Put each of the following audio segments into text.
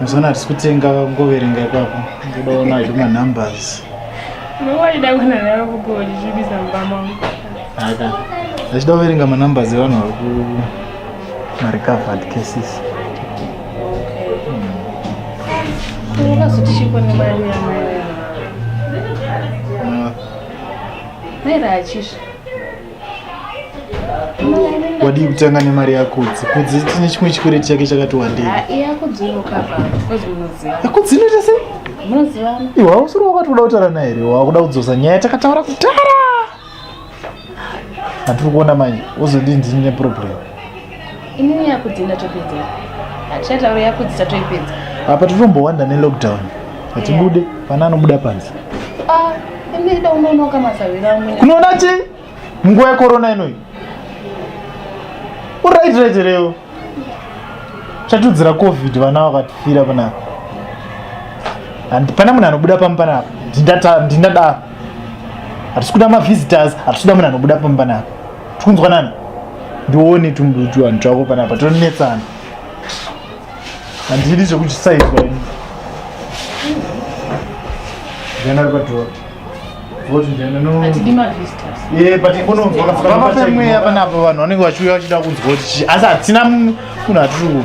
Mazana hatisi kutenga ngoverenga ipapo. Ndoda ona zve ma numbers. Ndowaida kuona nawe kupo uchizvibisa mumba mangu. Haka. Ndachida kuverenga ma numbers evanhu vari ku ma recovered cases. Ungazotishi kone mari yamai. Mera achisha. wadii kutanga nemari yakudzi kudzi tine chimwe chikwereti chake chakati wandei yakudzi inoita sei iwe hausiri wakati kuda kutaura naye here wakuda kudzosa nyaya takataura kutara hatiri kuona manje wozodii ndine problem Ini yakudzi ndatopedza. Hatichataura yakudzi tatoipedza. Apa tinombowanda ne lockdown. Hatibude yeah. pana anobuda panze. Ah, ini ida unonoka masavira amwe. Kunoona chi? Nguva yekorona inoyi. Uright right reo. Chatudzira covid vana vakatifira pana. And pana munhu anobuda pamba pana. Ndinda ndinda da. Hatisi kuda ma visitors, hatisi kuda munhu anobuda pamba pana. tikunzwa nani ndione tumbujuani twako panapa tonetsana handidi zvekuchisaizwa ini ndiana ari padhora patingononzwakafamapemweya panapa vanhu vanenge vachiuya vachida kunzwa kuti chii asi hatina munhu atiri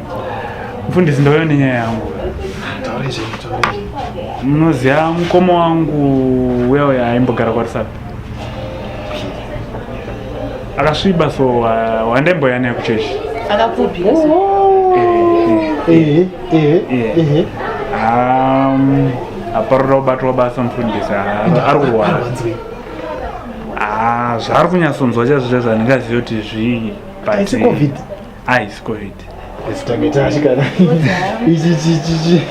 Mfundisi ndauya nenyaya yangu. Munoziva mukoma wangu uya uya aimbogara kwaRisapi. Akasviba so wandaimboya naye kuchechi. Akapfupi. Ehe, ehe, ehe. Um, aparura kubatwa basa mfundisi ah, ari kurwara ah, zvaari kunyatsonzwa chazvo chazvo handingazivi kuti zvii Ice cold. Esitameta chikana. Ichi chi chi chi.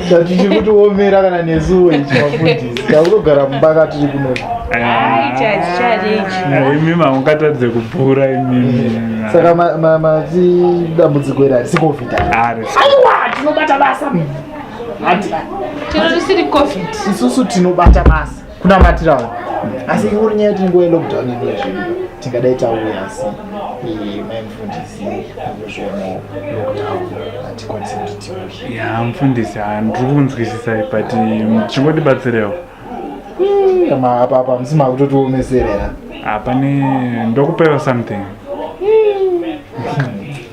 Chati chikuti womera kana nesuwo ichi mafundisi. Takugara mumba katiri kuno. Ai chachi chachi ichi. Imi maungatadze kubhura imi. Saka ma ma ma ti dambudziko iri arisi covid. Ari. Aiwa tinobata basa. Ati. Tino tisiri covid. Isusu tinobata basa. kunamatira vanhu asi ingori nyaya yekuti nguva yelockdown inuya zvedu tingadai tauya asi eh, mai mufundisi kuzvionawo lockdown hatikwanisi kuti tiuye ya mufundisi handiri kunzwisisa but chingotibatsirewo apapa musi makutotiwomeserera hapane ndokupewa something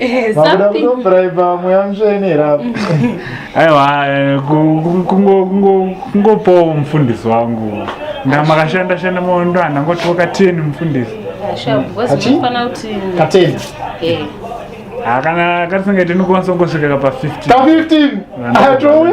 Eh, vakuda kutobraiba mweya mutsvene here apo aiwa eh, kungopawo mufundisi wangu ndamakashanda shanda maondo andangotiwo kateni mufundisi kateni eh. ah, kana katisingaite ndikwanisa kungosvika kapa 15 15 atouya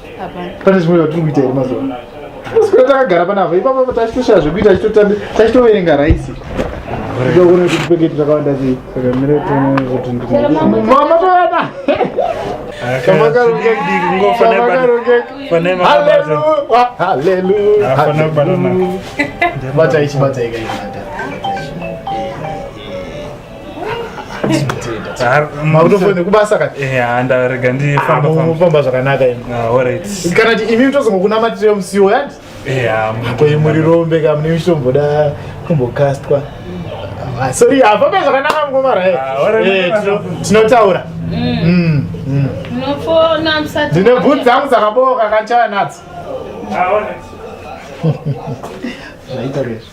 pane zvimwe zvatiri kuita here mazuva sikura takagara panapa ipapa tachitoshaya zvekuita tachitoverenga raisi ndokuona kuti peketi takawanda sei mama toyana Hallelujah. makutofoine kubasa kati eh, ndarega ndifamba zvakanaka ah, kana ti imi mitozomokunamatire musiwo yati eh, koimurirombe ka mune michitomboda kumbokastwa ah, sorry hafambe zvakanaka mungomara eh. ah, tinotaura mm. mm, mm. ndine bhut dzangu dzakabooka kachaya nadzo zvaita rezvo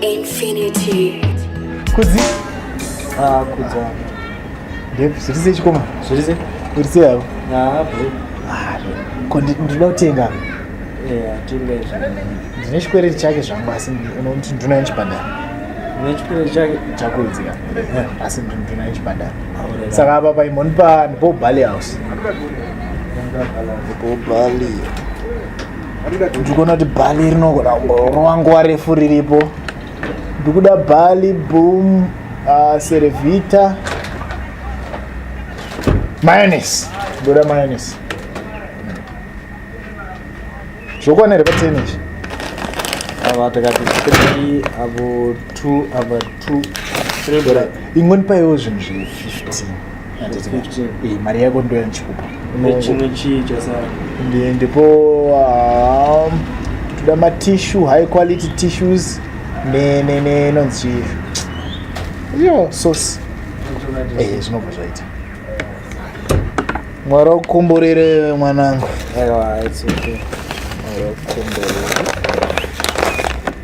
Infinity. Kudzi? Ah, kudzi. Depi, zviri sei chikoma? Zviri sei? Uri sei havo? Ah, bro. Ah, ko ndinoda kutenga. Eh, atenga izvo. Ndine chikwereti chake zvangu asi unoti nduna yechibhadhara. Ndine chikwereti chake chakudzi ka. Eh, asi nduna yechibhadhara. Ah, Saka apa paimoni pa ndipo Bali House. Ndipo Bali. ndikuona kuti bhali rinogona kungoronwa nguva refu riripo ndikuda bhali boom uh, servita mayonese ndoda mayonese zvokwana here pateni izvi ava takati three avo two ava two three dora ingoni paiwo zvinhu zve fifteen eh, mari yako ndo yanchikupa chimwe chii chasara ndipo um, toda matissue high quality tissues nenonzi ne, ne, yo source eh, zvinobva zvaita mwari wakukomborere mwanangu mwari wakukomborere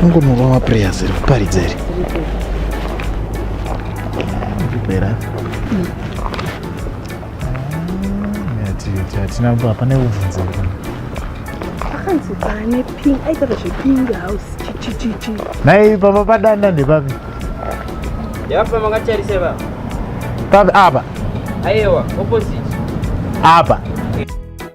Fungonowa maprayers ziri kuparidza iri. Kupera. Hatina kuba pane kuvhunza kuti. Akanzi pane pink aitava zvepink house chichichichi. Nhai papa padanda ndepapi? Yapa makatarisa baba. Papi apa? Aiwa opposite. Apa.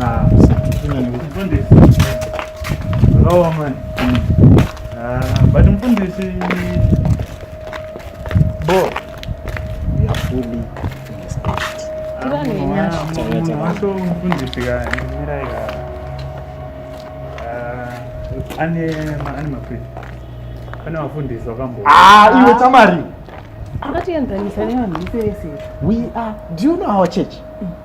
Ah, zvakaoma ah, but mfundisi bo yafuli wacho mfundisi kaimirai ka ah, ane ane maprint pane vafundisi vakambo ah, iwe tamari akatienzanisa nevanhu vese vese we are do you know our church mm.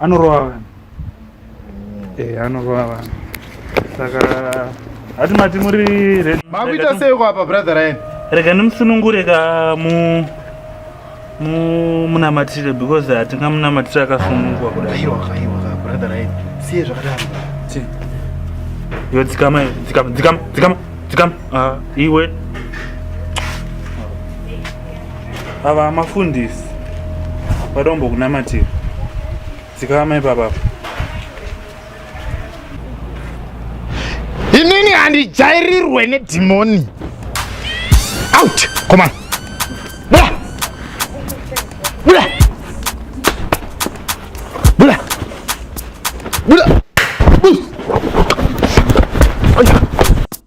anorova vanhu eh anorova vanhu saka hati mati muri makuita seiko apa brother ryan rega ndimusunungure ka mu munamatire because hatinga munamatire akasunungwa kudai siye zvakadaro yo dzikama dzikama dzikama dzikama dzikama ah, iwe ava mafundisi vadombo kunamatira dzikama ipapa inini handijairirwe nedhimoni out komana bula bula bula bula